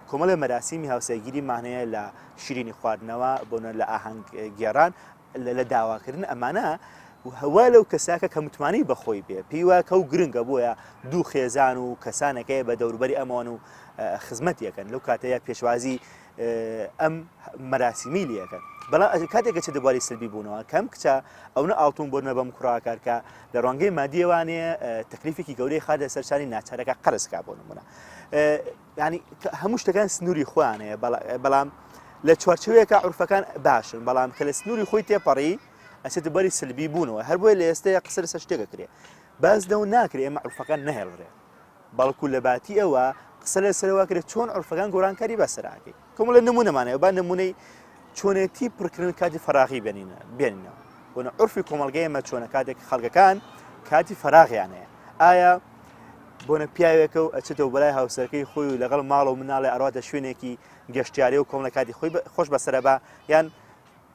کۆمەڵێ مەراسیمی هاوسەگیریمان هەیە لە شیرینی خواردنەوە، بۆ نموونە لە ئاهەنگ گێڕان، لە داواکردن ئەمانە هەوا لەو کەساکە کە متمانەی بەخۆی بێ پێی وایە کە و گرنگە بۆیە دوو خێزان و کەسانەکەی بە دەوروبەری ئەمەوەن و خزمەت یەکەن لەو کاتەیە پێشوازی ئەم مەراسیمی لەکەن بەڵام ئەژ کاتێکە چ دەباری سلبی بوونەوە کەم کچە ئەوە ئاڵتون بۆ نەبم کوڕاکارکە لە ڕۆنگەی مادیێوانێ تەکلیفێکی گەورەی خادە سەرشانی ناچارەکە قەرزکە بۆ نمونە یانی هەموو شتەکان سنووری خۆیان هەیە بەڵام لە چوارچوەیەکە عرفەکان باشن بەڵام کە لە سنووری خۆی تێپەڕی ئەسێت بەری سلبی بوونەوە هەر بۆی لە ئێستەیە قسە لەسەر شتێکە کرێ باز لەو ناکرێ ئێمە عرفەکان نەهێڵرێ بەڵکو لە باتی ئەوە قسە لەسەرەوە کرێت چۆن عرفەکان گۆرانکاری بەسەراکەی کۆمەڵێ نمونەمان هەیە با نمونەی چۆنێتی پڕکردن کاتی فەراغی بێنینە بێنینەوە بۆنە عرفی کۆمەلگەی ئەمە چۆنە کاتێک خەڵگەکان کاتی فەراغیان هەیە ئایا بۆنە پیاوێکە و ئەچێتەوە بەلای هاوسەرەکەی خۆی و لەگەڵ ماڵ و مناڵی ئەرواتە شوێنێکی گەشتیاری و کۆمەڵەکاتی خۆی خۆش بەسرە بە یان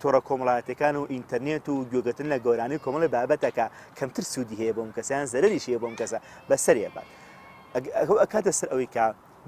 تۆڕە کۆمەڵایەتیەکان و ئینتەرنێت و گوێگرتن لە گۆرانی و کۆمەڵێ بابەتەکە کەمتر سوودی هەیە بۆم کەسە یان زەرەریش هەیە بۆم کەسە بەسەرێ بات ئەو ئەکاتە سەر ئەوەی کە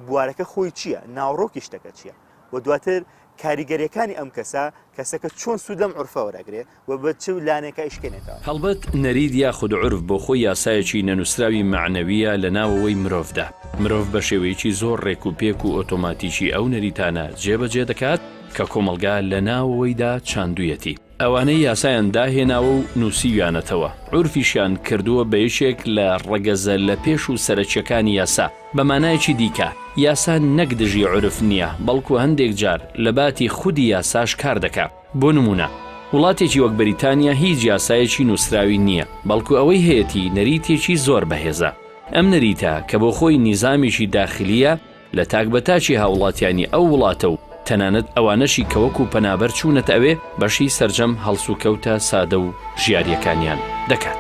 بوارەکە خۆی چییە ناوڕۆکی شتەکە چییە و دواتر کاریگەریەکانی ئەم کەسە کەسەکە چۆن سوود لەم عرفە وەرەگرێ و بە چ لانێکە ئیشکێنێتەوە. هەڵبەت نەریت یاخود عورف بۆ خۆی یاسایەکی نەنووسراوی مەعنەوییە لە ناوەوەی مرۆڤدا. مرۆڤ بە شێوەیەکی زۆر ڕێک و پێک و ئۆتۆماتیکی ئەو نەریتانە جێبەجێ دەکات، کە کۆمەڵگا لە ناوەوەیدا چاندوویەتی، ئەوانەی یاسایان داهێناوە و نووسیویانەتەوە، عورفیشیان کردووە بە یەکێک لە ڕەگەزە لە پێش و سەرەکییەکانی یاسا. بە مانایەکی دیکە، یاسا نەک دژی عورف نییە، بەڵکو هەندێک جار لە باتی خودی یاساش کار دەکا. بۆ نموونە، وڵاتێکی وەک بەریتانیا هیچ یاسایەکی نووسراوی نییە، بەڵکو ئەوەی هەیەتی نەریتێکی زۆر بەهێزە. ئەم نەریتە کە بۆ خۆی نیزامێکی داخلییە، لە تاک بە تاکی هاوڵاتیانی ئەو وڵاتە و تەنانەت ئەوانەشی کە وەکو پەنابەر چوونەتە ئەوێ بەشی سەرجەم هەڵسوکەوتە سادە و ژیارییەکانیان دەکات.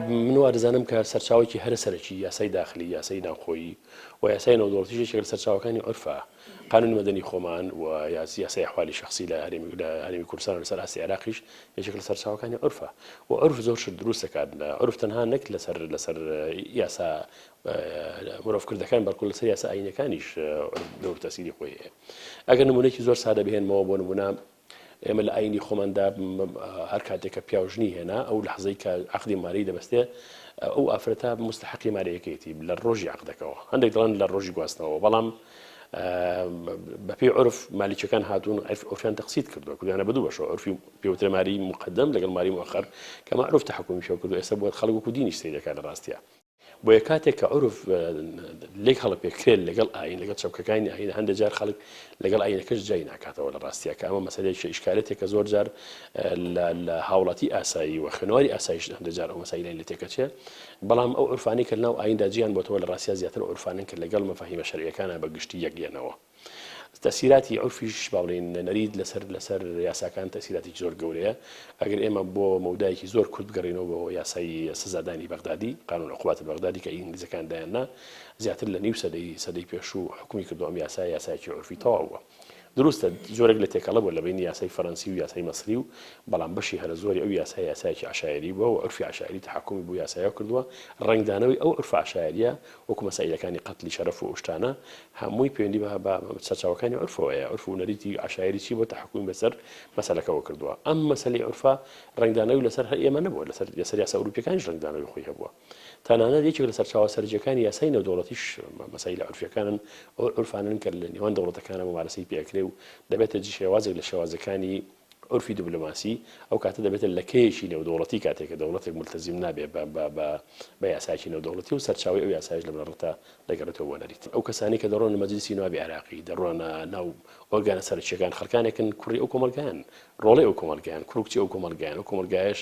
من وادەزانم کە سەرچاوەکی هەرە سەرەکی یاسای داخلی یاسای ناوخۆیی و یاسای نەودۆڵتی شێکێک لە سەرچاوەکانی عرفە قانونی مەدەنی خۆمان و یاسای حوالی شخصی لە هەرێمی لە هەرێمی کوردستان لەسەر ئاستی عێراقیش یەکێک لە سەرچاوەکانی عرفە و عرف زۆر شت دروستەکات لە عرف تەنها نەک لەسەر لەسەر یاسا مرۆڤ کردەکان بەڵکو لەسەر یاسا ئاینەکانیش دەور تەسیری خۆی هەیە ئەگەر نمونێکی زۆر سادە بهێنمەوە بۆ نمونە ئێمە لە ئاینی خۆماندا هەر کاتێکە پیاژنی هێنا ئەو لە حەزەی کە عقدی ماری دەبستێ ئەو ئافرەتا مستحقی مارەیەکەیەتی لە ڕۆژی عقدەکەەوە هەندێک دڵان لە ڕۆژی گواستنەوە بەڵام بەپی عرف مالیچەکان هاتوون ئۆفیان تەقسیت کردو کردیانە بدو بەش عرفی پێوترە ماری مقدم لەگەڵ ماری مؤخر کە معروف تحکمی شو کردو ئێستا بۆ خەڵک و دینی سری دەکات لە ڕاستە بۆیە کاتێک کە عورف لێک هەڵەپێکرێت لەگەڵ ئاین لەگەڵ چەمکەکانی ئاین هەندێک جار خەڵک لەگەڵ ئاینەکەش جای ناکاتەوە لە ڕاستیە کە ئەمە مەسلەیەکی ئیشکالێتێک کە زۆر جار لە هاوڵاتی ئاسایی و خوێنەواری ئاسایش هەندێک جار ئەو مەسایلای لە تێکەچێ بەڵام ئەو عورفانی کە ناو ئایندا جیان بۆتەوە لە ڕاستیا زیاتر عورفانن کە لەگەڵ مەفاهیمە شەرعیەکانە بە گشتی یەکلێنەوە تەسیراتی عورفیش با بڵێین نەریت لەسەر لەسەر یاساکان تەسیراتی زۆر گەورەیە ئەگەر ئێمە بۆ مەودایەکی زۆر کورت بگەڕینەوە بۆ یاسایی سزادانی بەغدادی قانون عقوبات بەغدادی کە ئینگلیزەکان دایاننا زیاتر لە نیو سەدەی سەدەی پێشوو حکومی کردو ئەم یاسا یاسایکی عورفی تەواو بووە دروستە زۆرێک لە تێکەڵە بۆ لە بینی یاسای فەرەنسی و یاسای مەسری و بەڵام بەشی هەرە زۆری ئەو یاسای یاسایکی عشاعری بووە و عورفی عشاعری تحکمی بۆ یاسایە کردووە ڕەنگدانەوەی ئەو عورفە عشاعریە وەکو مەسائیلەکانی قەتلی شەرەف و ئەوشتانە هەمووی پەیوەندی بە بە سەرچاوەکانی عورفەوە هەیە عورف و نەریتی عەشایری چی بۆ تەحەکومی بەسەر مەسەلەکەوە کردووە ئەم مەسەلەی عورفە ڕەنگدانەوی لەسەر هەر ئێمە نەبووە لەسەر لەسەر یاسا ئەوروپیەکانیش ڕەنگدانەوی خۆی هەبووە تەنانەت یەکێک لە سەرچاوە سەرجیەکانی یاسای نێودەوڵەتیش مەسەیلە عورفیەکانن ئەو عورفانەن کە لە نێوان دەوڵەتەکانە ممارەسەی پێکرێ و دەبێتە جی شێوازێک لە شێوازەکانی عورفی دبلۆماسی ئەو کاتە دەبێتە لەکەیەکی نێودەوڵەتی کاتێک کە دەوڵەتێک مولتەزیم نابێت بە بە بە بە یاسایەکی نێودەوڵەتی و سەرچاوەی ئەو یاسایەش لە بنەڕەتدا دەگەڕێتەوە بۆ نەریت ئەو کەسانەی کە دەڕۆن مەجلیسی نوابی عێراقی دەڕۆنە ناو ئۆرگانە سەرەکییەکان خەڵکانێکن کوڕی ئەو کۆمەڵگایان ڕۆڵەی ئەو کۆمەڵگایان کوڕ و کچی ئەو کۆمەڵگایان ئەو کۆمەڵگایەش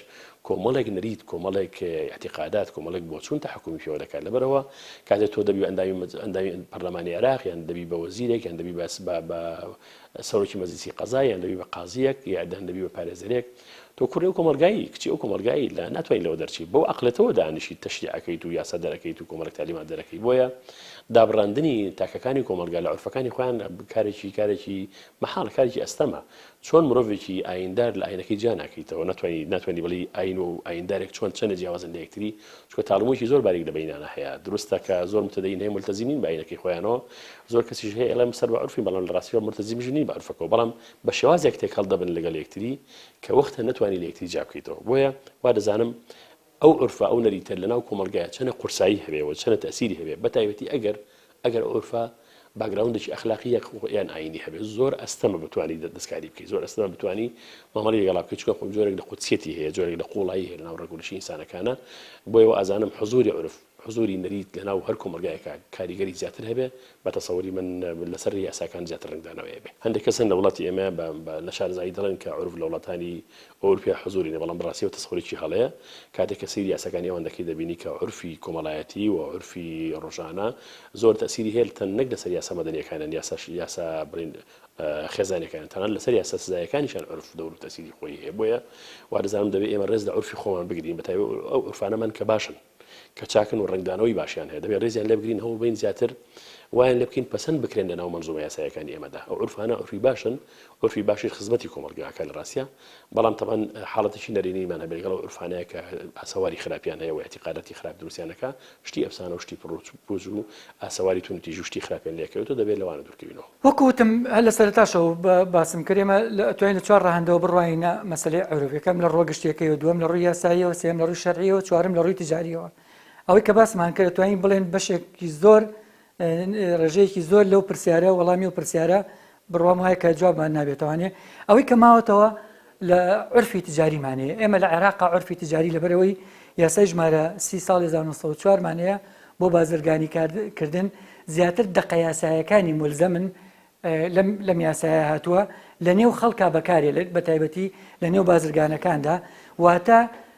کۆمەڵێک نەریت کۆمەڵێک اعتیقادات کۆمەڵێک بۆچوون تەحکومی پێوە دەکات لەبەرەوە کاتێک تۆ دەبی ئەندامی مەج ئەندامی پەرلەمانی عێراق یان دەبی بە وەزیرێک یان دەبی بەس بە بە سەرۆکی مەجلیسی قەزا یان دەبی بە قازییەک یا دان دەبی بە پارێزەرێک تۆ کوڕی ئەو کۆمەڵگایی کچی ئەو کۆمەڵگایی لە ناتوانین لەوە دەرچی بەو عقلەتەوە دانیشی تەشریعەکەیت و یاسا دەرەکەیت و کۆمەڵک تالیمان دەرەکەی بۆیە دابڕاندنی تاکەکانی کۆمەلگا لە عرفەکانی خۆیان بکارێکی کارێکی مەحاڵ کارێکی ئەستەمە چۆن مرۆڤێکی ئایندار لە ئاینەکەی جیاناکەیتەوە ناتوانانی ناتوانانی بڵی ئاین و ئایندارێک چۆن چەنە جیاوازن لە یەکتری چونکە تاڵموویەکی زۆر باریک لە بەینانە هەیە دروستە کە زۆر متەدەین هەیە مولتەزیم نین بە ئاینەکەی خۆیانەوە زۆر کەسیش هەیە ئەڵێم سەر بە عورفین بەڵام لە ڕاستیەوە مولتەزیمیش نین بە عورفەکەوە بەڵام بە شێوازێک تێکەڵ دەبن لەگەڵ یەکتری کە وەختە نەتوانی لە یەکتری جیا بکەیتەوە بۆیە وا دەزانم ئەو عورفە ئەو نەریتە لەناو کۆمەڵگایە چەنە قورسایی هەبێ و چەنە تەئسیری هەبێ بەتایبەتی ئەگەر ئەگەر ئورفە باکگراوندێکی ئەخلاقی یاک خۆ یان ئاینی هەبێت زۆر ئەستەمە بتوانی دەستکاری بکەی زۆر ئەستەمە بتوانی مامەڵەی لەگەڵا بکەی چونکە خۆ جۆرێک لە قودسیەتی هەیە جۆرێک لە قوڵایی هەیە لەناو ڕەگوڕیشی ئینسانەکانا بۆیە وازانم حزوری عورف حزوری نەریت لەناو هەر کۆمەڵگایەکا کاریگەری زیاتر هەبێ بە تەسەوری من لەسەر یاساکان زیاتر ڕەنگدانەوەیە بێ هەندێک کەس هەن لە وڵاتی ئێمە بە لە شارەزایی دەڵێن کە عورف لە وڵاتانی ئەورپیا حزوری نیە بەڵام بەڕاستی ئەوە تەسەورێکی هەڵەیە کاتێک کە سەیری یاساکانی ئەوان دەکەی دەبینی کە عورفی کۆمەڵایەتی و عورفی ڕۆژانە زۆر تەئسیری هەیە تەن نەک لەسەر یاسا مەدەنیەکانیان یاسا یاسا بڵین خێزانەکانیان تەنانەت لەسەر یاسا سزایەکانیشان عورف دەور و تەئسیری خۆی هەیە بۆیە وادەزانم دەبێ ئێمە ڕێز لە عورفی خۆمان بگرین بەتایبەت ئەو عورفانەمان کە باشن کە چاکن و ڕەنگدانەوەی باشیان هەیە دەبێت ڕێزیان لێ بگرین هەوڵ بەین زیاتر وایان لێ بکەین پەسەند بکرێن لە ناو مەنزومە یاساییەکانی ئێمەدا ئەو عورفانە عورفی باشن عورفی باشیش خزمەتی کۆمەڵگاکە لە ڕاستیا بەڵام تەبەن حاڵەتێکی نەرێنیمان هەبێت لەگەڵ ئەو عورفانەیە کە ئاسەواری خراپیان هەیە و ئیعتیقاداتی خراپ دروستیان دەکا شتی ئەفسانە و شتی پڕ و پوز و ئاسەواری تون و تیژ و شتی خراپیان لێ کەوێت و دەبێت لەوانە دوورکەوینەوە وەکو وتم هەر لە سەرەتاشەوە باسم کرد ئێمە ئەتوانین لە چوار ڕەهەندەوە بڕوانینە مەسەلەی عەرف، یەکەم لە ڕووە گشتییەکەیەوە، دووەم لە ڕووی یاساییەوە، سێیەم لە ڕووی شەرعییەوە، چوارەم لە ڕووی تجارییەوە. ئەوەی کە باسمان کرد ئەتوانین بڵێین بەشێکی زۆر ڕێژەیەکی زۆر لەو پرسیارە وەڵامی و پرسیارە بڕوام وایە کە جوابمان نابێتەوانێ ئەوەی کە ماوەتەوە لە عورفی تجاریمان هەیە ئێمە لە عێراقا عورفی تجاری لەبەرەوەی یاسای ژمارە سی ساڵی هەزار و نۆ سەد و چوار مان هەیە بۆ بازرگانی کار کردن زیاتر دەقە یاسایەکانی مولزەمن لەم لەم یاسایە هاتووە لە نێو خەڵکا بەکارێ لە بە تایبەتی لە نێو بازرگانەکاندا واتە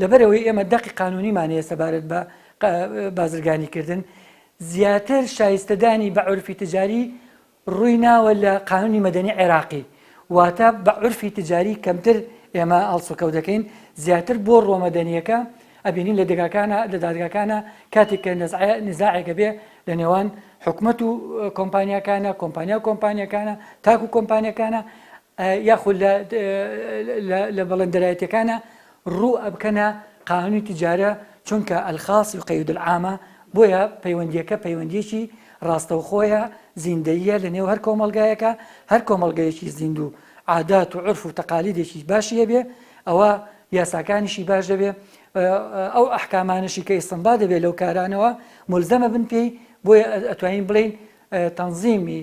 لەبەرئەوەی ئێمە دەقی قانونیمان هەیە سەبارەت بە بازرگانیکردن، زیاتر شایستەدانی بە عورفی تجاری ڕووی ناوە لە قانونی مەدەنی عێراقی، واتە بە عورفی تجاری کەمتر ئێمە هەڵسوکەوت دەکەین، زیاتر بۆ ڕووە مەدەنییەکە، ئەبینین لە دەگاکانە لە دادگاکانە کاتێک کە نەزعە نزاعێک ئەبێ لە نێوان حکومەت و کۆمپانیاکانە، کۆمپانیا و کۆمپانیاکانە، تاک و کۆمپانیاکانە، یاخود لە لە بەڵندەرایەتیەکانە ڕوو ئەبکەنە قانونی تجارە چونکە الخاص یقید العامە بۆیە پەیوەندیەکە پەیوەندیەکی ڕاستەوخۆیە زیندەییە لە نێو هەر کۆمەڵگایەکا هەر کۆمەڵگەیەکی زیندوو عادات و عورف و تەقالیدێکی باشی هەبێ ئەوا یاساکانیشی باش دەبێ ئەو ئەحکامانشی کە ئیسنبا دەبێت لەو کارانەوە ملزەمە بن پێی بۆیە ئەتوانین بڵین تەنظیمی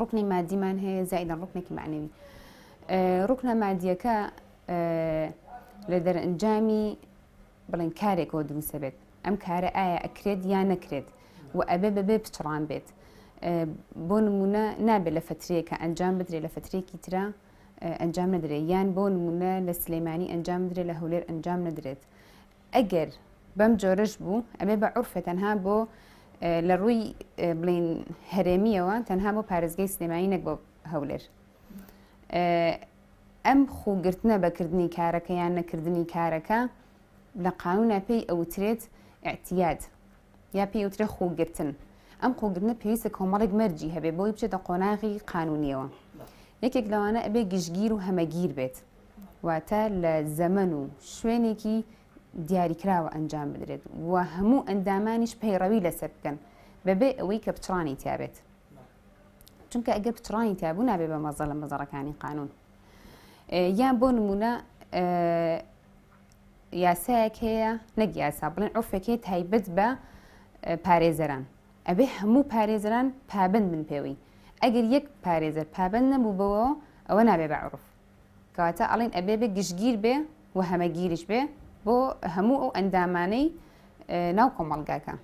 ڕوکنی مادیمان هەیە زایدە ڕوکنێکی معنەوی ڕوکنە مادیەکە لە دەرەنجامی بڵێن کارێکەوە دروستە بێت ئەم کارە ئایا ئەکرێت یا نەکرێت و ئەبێ بەبێ پچڕان بێت بۆ نمونە نابێت لە فترەیەکە ئەنجام بدرێت لە فترێکی تررا ئەنجام نەدرێت یان بۆ نمونە لە سلەیمانی ئەنجام درێت لە هەولێر ئەنجام نەدرێت ئەگەر بەم جۆرەش بوو ئەبێ بە عورفە تەنها بۆ لە ڕووی بڵین هەرێمیەوە تەنها بۆ پارێزگەی سلێمانی نەک بۆ هەولێر ئەم خوگرتنە بەکردنی کارەکە یان نەکردنی کارەکە لە قانونە پێی ئەوترێت ئەتیاد یا پێی وترێ خوگرتن ئەم خوگرنە پێویستە کۆمەڵێک مەرجی هەبێ بۆی بچێتە قۆناغی قانونیەوە یەکێک لەوانە ئەبێ گشتگیر و هەمەگیر بێت واتە لە زەمەن و شوێنێکی دیاریکراوە ئەنجام بدرێت و هەموو ئەندامانیش پەیڕەوی لەسەر بکەن بەبێ ئەوەی کە پچڕانی تیاابێت چونکە ئەگە پچڕانی تابوو نابێ بە مەزە لە مەزەڕەکانی قانون یان بۆ نمونە یاسایەک هەیە نەک یاسا بڵێن عرفێکی تایبەت بە پارێزەران ئەبێ هەموو پارێزران پابند من پێوەی ئەگەر یەک پارێزەر پابند نەبوو بەوە ئەوە نابێ بە عرف کەواتە ئەڵێن ئەبێ بێ گشتگیر بێ و هەمەگیریش بێ بۆ هەموو ئەو ئەندامانەی ناو کۆمەڵگاکە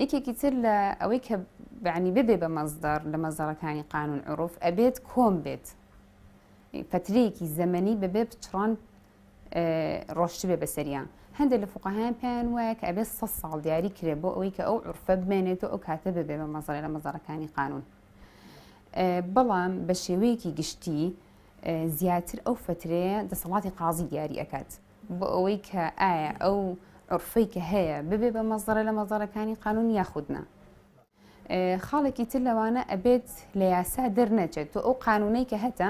یەکێکی تر لە ئەوەی کە بەعنی ببێ بە مەزدار لە مەزارەکانی قانون عروف ئەبێت کۆم بێت پەترەیەکی زەمەنی بەبێ بچڕان ڕۆشتبێ بەسەریان هەندێک لە فقاهیان پێیان وایە کە ئەبێت سە ساڵ دیاری کرێ بۆ ئەوەی کە ئەو عرفە بمێنێت و ئەو کاتە ببێ بە مەزارە لە مەزارەکانی قانون بەڵام بە شێوەیەکی گشتی زیاتر ئەو فترەیە دەسەڵاتی قازی دیاری ئەکات بۆ ئەوەی کە ئایا ئەو عرفەی کە هەیە ببێ بە مەزڕە لە مەزارەکانی قانون یاخودنا خاڵێکی تر لەوانە ئەبێت لە یاسا دەرنەچێت تۆ ئەو قانونەی کە هەتە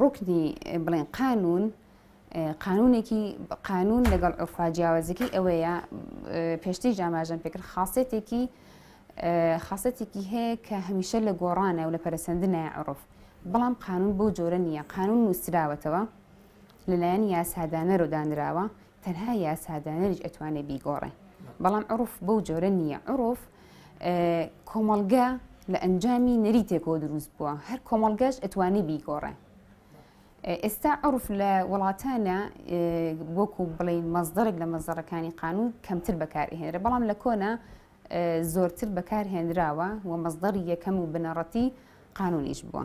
ڕوکنی بڵێن قانون قانونێکی قانون لەگەڵ ئۆفا جیاوازەکەی ئەوەیە پێشتیش جاماژەن پێکرد خاصێتێکی خاصەتێکی هەیە کە هەمیشە لە گۆڕانە و لە پەرسەندنای عڕف بەڵام قانون بۆ جۆرە نییە قانون نووسراوەتەوە لەلایەن یاسادانەرۆدانراوە تەنها یاسادانەریش ئەتوانێ بیگۆڕێ بەڵام عروف بەو جۆرە نییە عروف کۆمەڵگە لە ئەنجامی نەریتێکەوە دروست بووە هەر کۆمەڵگەش ئەتوانی بیگۆڕێ ئێستا عرف لە وڵاتانە وەکو بڵین مەزدەرێک لە مەزەڕەکانی قانون کەمتر بەکارهێنرە بەڵام لە کۆنا زۆرتر بەکارهێنراوە و مەزدەری یەکەم و بنەڕەتی قانونیش بووە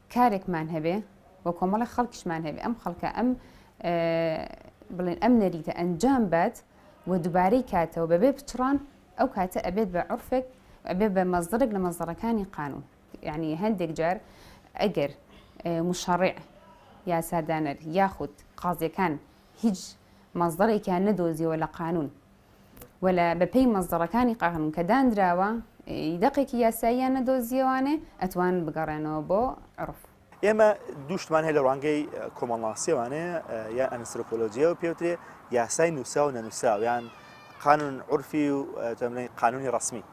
کارێکمان هەبێ و کۆمەڵی خەڵکیشمان هەبێ ئەم خەڵکە ئەم بڵێن ئەم نەریتە ئەنجام بات و دووبارەی کاتەوە بەبێ پچڕان ئەو کاتە ئەبێت بە عرفێک ئەبێ بە مەزدەرێک لە مەزدەڕەکانی قانون یعنی هەندێک جار ئەگەر مشەڕێ یاسادانەر یاخود قازیەکان هیچ مەزدەرێکیان نەدۆزیەوە لە قانون و لە بە پێی مەزدەڕەکانی قانون کە دانراوە ی دەقێکی یاساییان نەدۆزییەوانێ ئەتوان بگەڕێنەوە بۆ عورف. ئێمە دوو شتمان هەیە لە ڕوانگەی کۆمەڵناسییەوانەیە یان ئەنسرۆپۆلۆجییەوە پێ وترێ یاسای نووسراو و نەنووسراو یان قانون عورفی و تەمرەی قانونی ڕسمی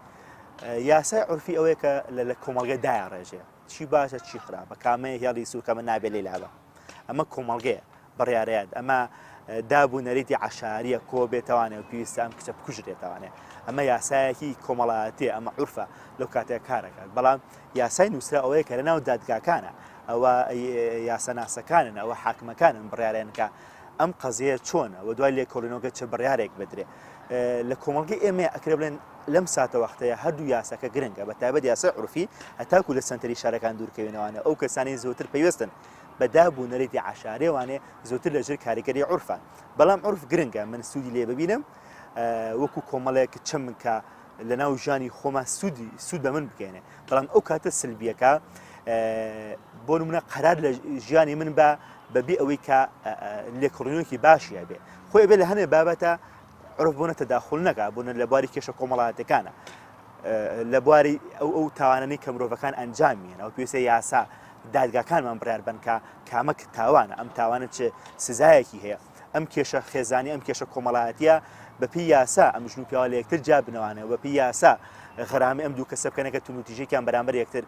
یاسای عورفی ئەوەیە کە لە لە کۆمەڵگە دایە ڕێژێ چی باشە چی خراپە کامەیە هێڵی سوکەمە نابێ لێ لابە ئەمە کۆمەڵگەیە بڕارەیان ئەمە داب و نەریتی عشاریە کۆ بێتوانێت و پێویستە ئەم کچە بکوژرێتوانێت ئەمە یاسایەکی کۆمەڵایەتی ئەمە عرفە لەو کاتێک کارەکان بەڵام یاسای نووسرا ئەوەیە کە لە ناو دادگاکانە ئەوە یاسەناسەکانن ئەوە حاکمەکانن بڕارێنکە ئەم قەزیە چۆنە و دوای لێکۆڵینەوەگە چه بڕارێک بدرێ لە کۆمەڵگە ئێمە ئەکرێ بڵێن لەم ساتەوەختەیا هەردوو یاساکە گرنگە بە تایبەت یاسای عورفی هەتاکو لە سەنتەری شارەکان دوورکەوێنەوانێ ئەو کەسانەی زۆتر پەیوەستن بە داب و نەریتی عەشارێ وانێ زۆتر لە ژێر کاریگەری عورفە بەڵام عورف گرنگە من سوودی لێ ببینم وەکو کۆمەڵێک چەمن کە لە ناو ژانی خۆمان سوودی سوود بە من بکەێنێ بەڵام ئەو کاتە سلبیەکە بۆ منە قەرار لە ژیانی من بە بەبی ئەوەی کە لێکڕینۆکی باشیە بێ خۆی بێ لە هەنێ بابەتە عورف بوونە تەداخول نەکا بوونە لە بواری کێشە کۆمەڵاتەکانە لە بواری ئەو ئەو تاوانەی کە مرۆڤەکان ئەنجامیان ئەو پێویستە یاسا دادگاکانمان بڕار بنکە کامەک تاوانە ئەم تاوانە چ سزایەکی هەیە ئەم کێشە خێزانی ئەم کێشە کۆمەڵایەتە بەپی یاسا ئەم ژن و پیاوە لە یەکتر جا بنەوانەوە بەپی یاسا غرامی ئەم دوو کەسە بکەنەکە تونوتیژێکیان بەرامبەر یەکتر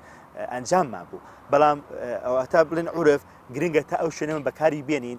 ئەنجاممان بوو بەڵام ئەوتا بڵێن عورف گرنگە تا ئەو شوێنەمە بەکاری بێنین